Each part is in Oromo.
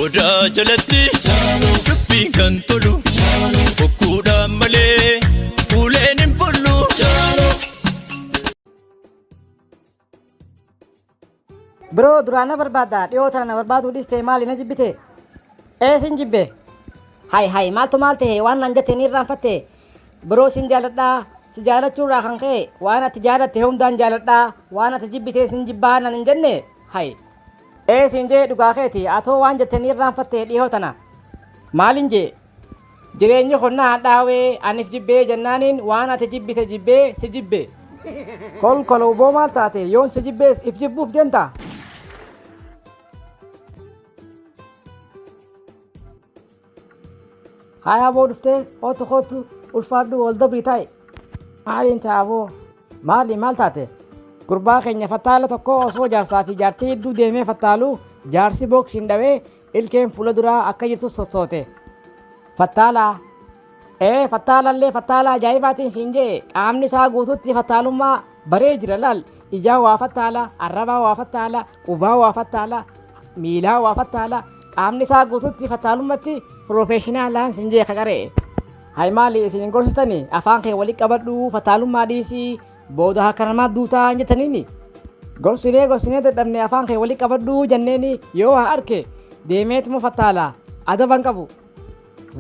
Odaa jalatti dubbiin kan tolu bokkuudhaan malee uleen hin bullu. Biroo duraan na barbaadda dhiyoo tana na barbaaduu dhistee maali na jibbite ee sin jibbe hay hay maaltu maal ta'e waan nan jette ni irraanfatte biroo sin jaaladhaa si jaalachuu irraa kan ka'e waan ati jaalatte hundaan jaaladhaa waan ati jibbitees nin jibbaa nan hin jenne hay Ee siin jee dhugaa keeti atoo waan jette ni irraanfatte dhihoo tana maalin jee jireenyi kun na hadhaawee anif jibbee jennaaniin waan ati jibbite jibbee si jibbe kolkoloo boo maal taate yoon si jibbees if jibbuuf deemta Haaya aboo dhuftee kootu kootu ulfaadhu wal dabrii taa'e. Maaliin ta'a aboo? Maali maal taate? Gurbaa keenya fattaala tokko osoo jaarsaa fi jaartii hedduu deemee fattaalu jaarsi booksiin dhawee ilkeen fuula duraa akka jirtu sossoote. Fattaalaa. Ee fattaalallee fattaala ajaa'ibaatiin siin jee qaamni isaa guutuutti fattaalummaa Baree jira laal ijaa waa fattaala, arrabaa waa fattaala, qubaa waa fattaala, miilaa waa fattaala, qaamni isaa guututti fattaalummatti piroofeeshinaalaan sin jee kaqaree. Hay maaliif isin hin gorsitani afaan kee walitti qabadhu fattaalummaa dhiisii booda harka namaa duutaa hin jettaniini. Gorsinee gorsinee dadhabne afaan kee walitti qabadhu janneeni yoo waa arke deemeetuma fattaala adaban qabu.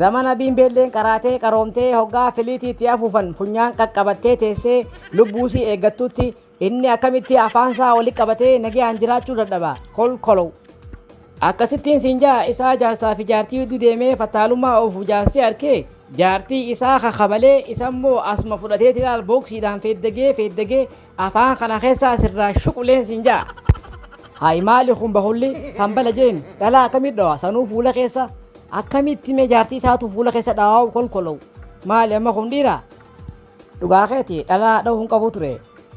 Zamana biimbeelleen qaraatee qaroomtee hoggaa filiitii itti afuufan funyaan qaqqabattee teessee lubbuusii eeggattutti inni akkamitti afaansaa wali qabatee nagayaan jiraachuu dadhaba kolkolow. Akkasittiin siin ja'a isaa jaarsaa fi jaartii gidduu deemee fattaalummaa oofu jaarsii arkee jaartii isaa kakabalee isammoo asuma fudhateeti laal booksiidhaan feeddagee feeddagee Afaan kana keessaa asirraa shuquleen siin ja'a. Hayi maali kun bahulli kan bala jeen dhalaa akkamitti dhawa sanuu fuula keessa akkamitti mee jaartii isaatu fuula keessa dhawaa'u kolkolow maali amma kun dhiira dhugaa keeti dhalaa dha'uu hin qabu ture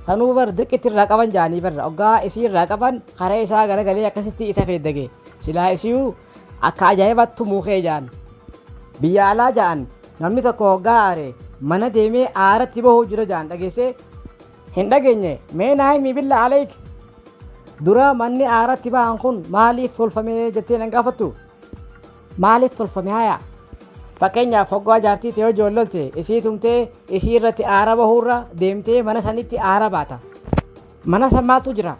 sanuu bar dirqitti irraa qaban jaanii barra oggaa isii irraa qaban karaa isaa garagalee akkasitti isa feeddage silaa isiyuu Akka ajaa'ibaatti tumuu kee ja'an. Biyya alaa ja'an namni tokko hoggaa aare mana deemee aaratti bahuu jira ja'an dhageessee? Hin dhageenye mee naa himi billa aleyk. Dura manni aaratti bahan kun maaliif tolfame jettee nan gaafattu? Maaliif tolfame haya? Fakkeenyaaf hoggaa jaartii tee hojii ollolte isii tumtee isii irratti aara bahuurra deemtee mana sanitti aara baata. Mana san maaltu jira?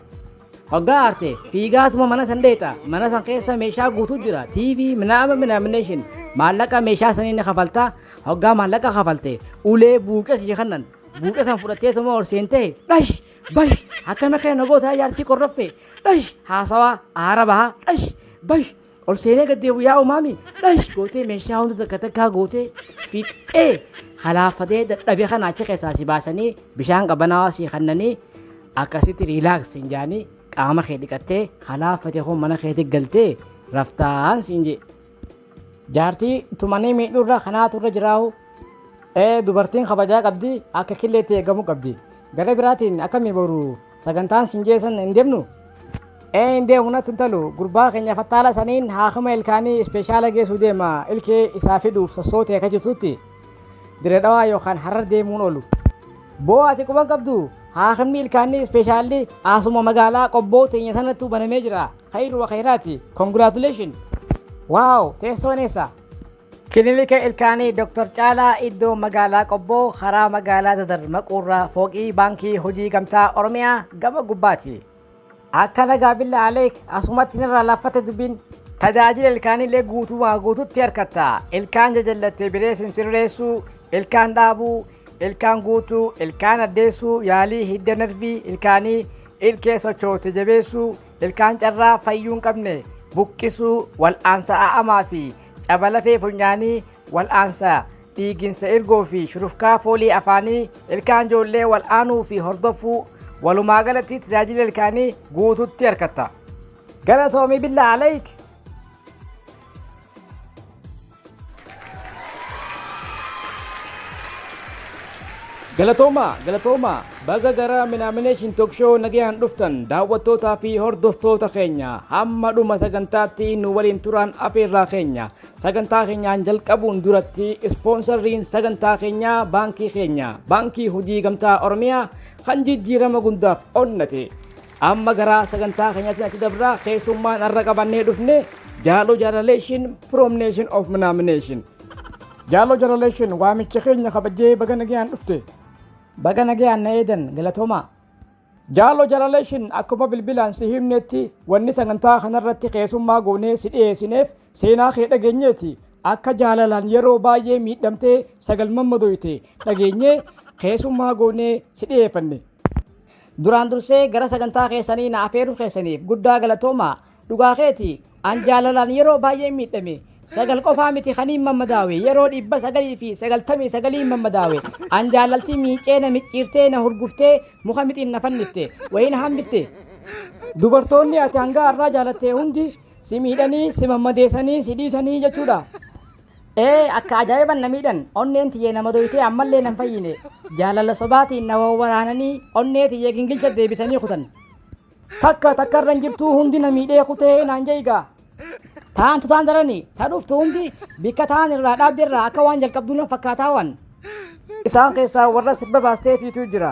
Hoggaa aarte fiigaatuma mana san dheexa. Mana san keessa meeshaa guutuu jira. TV, minaama minaamination. Maallaqa meeshaa sanii ni kafalta. Hoggaa maallaqa kafalte ulee buuqee si kannan. Buuqee san fudhatteetuma ol seentee dhash bash akkana keena gootaa jaartii qorroffee dhash haasawaa aara bahaa dhash bash Ol seenee gad deebi'u yaa umaami dhash gootee meeshaa hunda takka takkaa gootee fixxee halaafatee dadhabee kana achi keessaa si baasanii bishaan qabanaawaa si kannanii akkasitti riilaaks siin jaanii qaama kee dhiqattee halaafatee hoo mana keetti galtee raftaan siin jee. Jaartii tumanii miidhurra kanaatu irra jiraa'u dubartiin kabajaa qabdi akka killeetti eegamuu qabdi. Gara biraatiin akkamii boru Sagantaan siin jee san hin deemnu? Ee hin deemu natti hin talu. Gurbaa keenya fattaala saniin haakima ilkaanii ispeeshaala geessuu deema ilkee isaa fiduuf sossootee akka jirtutti Dirree Dhawaa yookaan Harar deemuun oolu. Boo ati quban qabdu haakimni ilkaanii ispeeshaalli asuma magaalaa qobboo teenya sanattuu banamee jira. Khayru wa khayraati. Congratulations. Waaw teessoon eessa? Kilinika Ilkaanii Dr. Caalaa Iddoo Magaalaa Qobboo karaa Magaalaa Dadar maquurraa fooqii Baankii Hojii Gamtaa Oromiyaa gama gubbaati. Akka nagaa billa aleek asumatti nirraa laaffate dubbiin. Tajaajila ilkaaniillee guutumaa guututti harkatta. Ilkaan jajallattee bireesin sirreessuu, ilkaan dhaabuu, ilkaan guutuu, ilkaan addeessuu, yaalii hidda narvii ilkaanii, ilkee sochoote jabeessuu, Ilkaan carraa fayyuu hin qabne buqqisuu, wal'aansa a'amaa fi caba lafee funyaanii, wal'aansa dhiiginsa irgoo fi shurufkaa foolii afaanii, ilkaan ijoollee wal'aanuu fi hordofuu, walumaa galatti tajaajila ilkaanii guututti argatta. Galatoomi billaa aleyk! Galatoomaa galatoomaa baga gara Minaamination Talk Show nagayaan dhuftan daawwattootaa fi hordoftoota keenya hamma dhuma sagantaatti nu waliin turaan afeerraa keenya sagantaa keenyaan jalqabuun duratti ispoonsarriin sagantaa keenyaa baankii keenya baankii hojii gamtaa Oromiyaa kan jijjiirama gundaaf onnate Amma gara sagantaa keenyatti achi dabra keessummaan har'a qabannee dhufne jaaloo jaalaleeshin from nation of minaamination. Jaaloo jaalaleeshin waamicha keenya kabajee baga nagayaan dhufte. Baga nagayaan na eedan galatoomaa. Jaaloo jaalaleeshin akkuma bilbilaan si himnetti wanni sagantaa kanarratti keessummaa goonee si dhiyeessineef seenaa kee dhageenyeeti. Akka jaalalaan yeroo baay'ee miidhamtee sagal mammadoyte dhageenyee keessummaa goonee si dhiyeeffanne. Duraan dursee gara sagantaa keessanii na afeeruu keessaniif guddaa galatoomaa. Dhugaa keeti an jaalalaan yeroo baay'een miidhame. Sagal qofaa miti kaniin mammadaawe yeroo dhibba sagalii fi sagaltamii sagaliin mammadaawe. An jaalaltii miicee na micciirtee na hurguftee muka mixiin na fannifte wayii na hambitte. Dubartoonni ati hanga har'aa jaalatte hundi si miidhanii si mammadeessanii si dhiisanii jechuudha. Ee akka ajaa'iban na miidhan onneen tiyyee nama doytee ammallee nan fayyine jaalala sobaatiin na wawwaraananii onnee tiyyee gingilcha deebisanii kutan takka takka irran jirtuu hundi na miidhee kutee naan jeegaa taantu taan darani ta dhuftu hundi bikka taan irraa dhaabde irraa akka waan jalqabduu nan fakkaataa waan isaan keessaa warra sirba baastee fiituu jira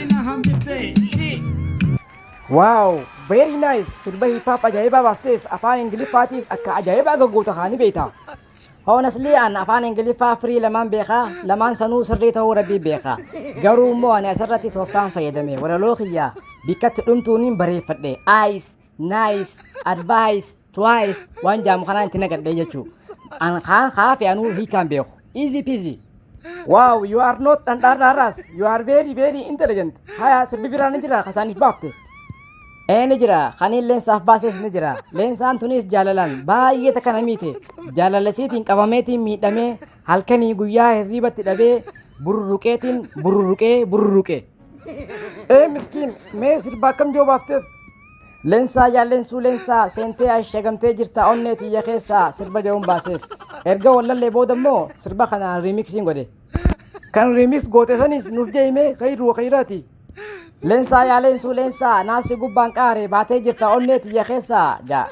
na hambifte shi. Wow, very nice. Sirba hip hop ajaa'ibaa baafteef afaan Ingiliffaatiis akka ajaa'ibaa gaggoota kaanii beekta. Honestly an afaan Ingiliffaa firii lamaan beekaa, lamaan sanuu sirrii ta'uu rabbii beekaa. Garuu immoo ani asirratti tooftaan fayyadame walaloo kiyyaa bikkatti dhumtuuniin bareeffadhe. Ice, nice, advice, Twice waan jaamu kanaan itti nagadhee jechuu. An kaan kaafe anuu hiikaan beeku. Easy peasy. Wow, you are not dhandhaadhaadhaas. You are very very intelligent. Haya sirbi biraa ni jira kasaaniif baafte. Ee ni jira kaniin leensaaf baases ni jira. Leensaan tunis jaalalaan baay'ee takka na miite. Jaalalasiitiin qabameetiin miidhamee halkanii guyyaa hirriibatti dhabee burruruqeetiin burruruqee burruruqee. Ee miskiin mee sirba akkam joo baafteef? Lensaa yaa lensuu lensaa seentee ashagamtee jirta onnee tiyya keessaa sirba jedhuun baaseef. Erga wallallee booda immoo sirba kana riimiksiin godhe. Kan riimiks goote sanis nuuf jeeyimee kayiru wa kayiraati. Lensaa yaa lensuu lensaa naasi gubbaan qaare baatee jirta onnee tiyya keessaa jaa.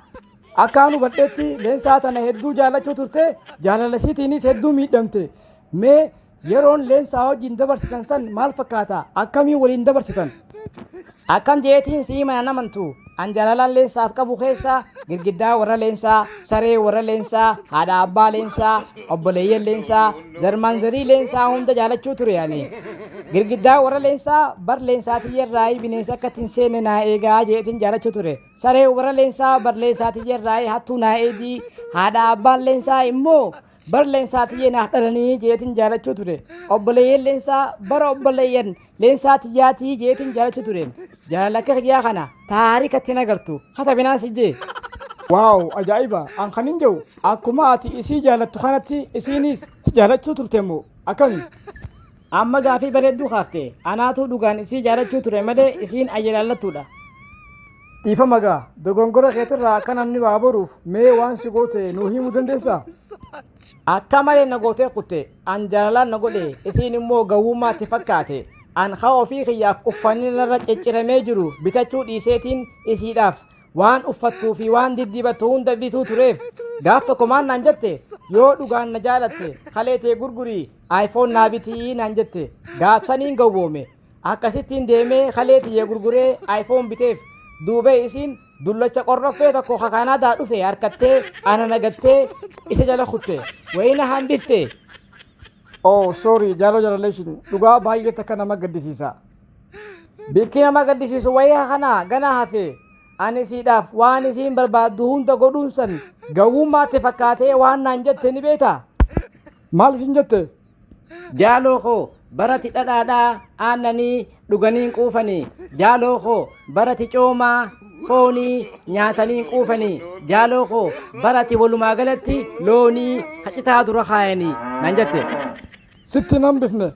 Akkaan hubadheetti leensaa tana hedduu jaallachuu turte jaalala isiitiinis hedduu miidhamte. Mee Yeroon leensaa wajjin dabarsitan san maal fakkaata? Akkamiin waliin dabarsitan? Akkam jeetiin si'i mana namantu an jaalalaan leensaaf qabu keessaa girgiddaa warra leensaa, saree warra leensaa, haadha abbaa leensaa, obboleeyyan leensaa, zarmaan zarii leensaa hunda jaalachuu ture ani. Girgiddaa warra leensaa bar leensaa tiyyarraayii bineensa akka ittiin seenne naa eegaa jeetiin jaalachuu ture. Saree warra leensaa bar leensaa tiyyarraayii hattuu naa eegii haadha abbaan leensaa immoo bar leensaa tiyyee naaf dhalanii jeetin jaalachuu ture obboleeyyan leensaa bara obboleeyyan leensaa tiyyaatii jeetin jaalachuu ture jaalala akka kiyyaa kana taarika ittiin agartu katabinaan si jee waaw ajaa'iba an kan hin jiru akkuma ati isii jaalattu kanatti isiinis si jaalachuu turte immoo akkami Amma gaafii bareedduu kaafte. Anaatuu dhugaan isii jaalachuu ture malee isiin ayyalaallattuudha. Dhiifama gaa dogongora keetirraa akka namni waa baruuf mee waan si goote nuu himuu dandeessaa? Akka malee na gootee kutte. An jaalalaan na godhe isiin immoo gawwummaatti fakkaate. An haa ofii kiyyaaf uffanni narra cicciramee jiru bitachuu dhiiseetiin isiidhaaf waan uffattuu fi waan diddibattu hunda bituu tureef gaaf tokko maal naan jette yoo dhugaan na jaalatte kalee tee gurgurii iPhone naa bitii naan jette gaafsaniin gowwoome akkasittiin deemee kalee tiyya gurguree iPhone biteef duubee isiin dullacha qorroffee tokko ka Kaanaadaa dhufe harkattee ana nagattee isa jala kutte wayii na hambifte. Oh sorry jaaloo jalaleeshin dhugaa baay'ee takka nama gaddisiisa. Bikki nama gaddisiisu wayii kana ganaa hafe ani siidhaaf waan isiin barbaaddu hunda godhuun san gawwummaatti fakkaatee waan naan jette ni beektaa? Maal isin jette? Jaaloo koo barati dhadhaadhaa aannanii dhuganiin quufanii jaaloo koo barati coomaa foonii nyaataniin quufanii jaaloo koo barati walumaa galatti loonii kacitaa dura kaayanii nan jette. Sitti nan bifne.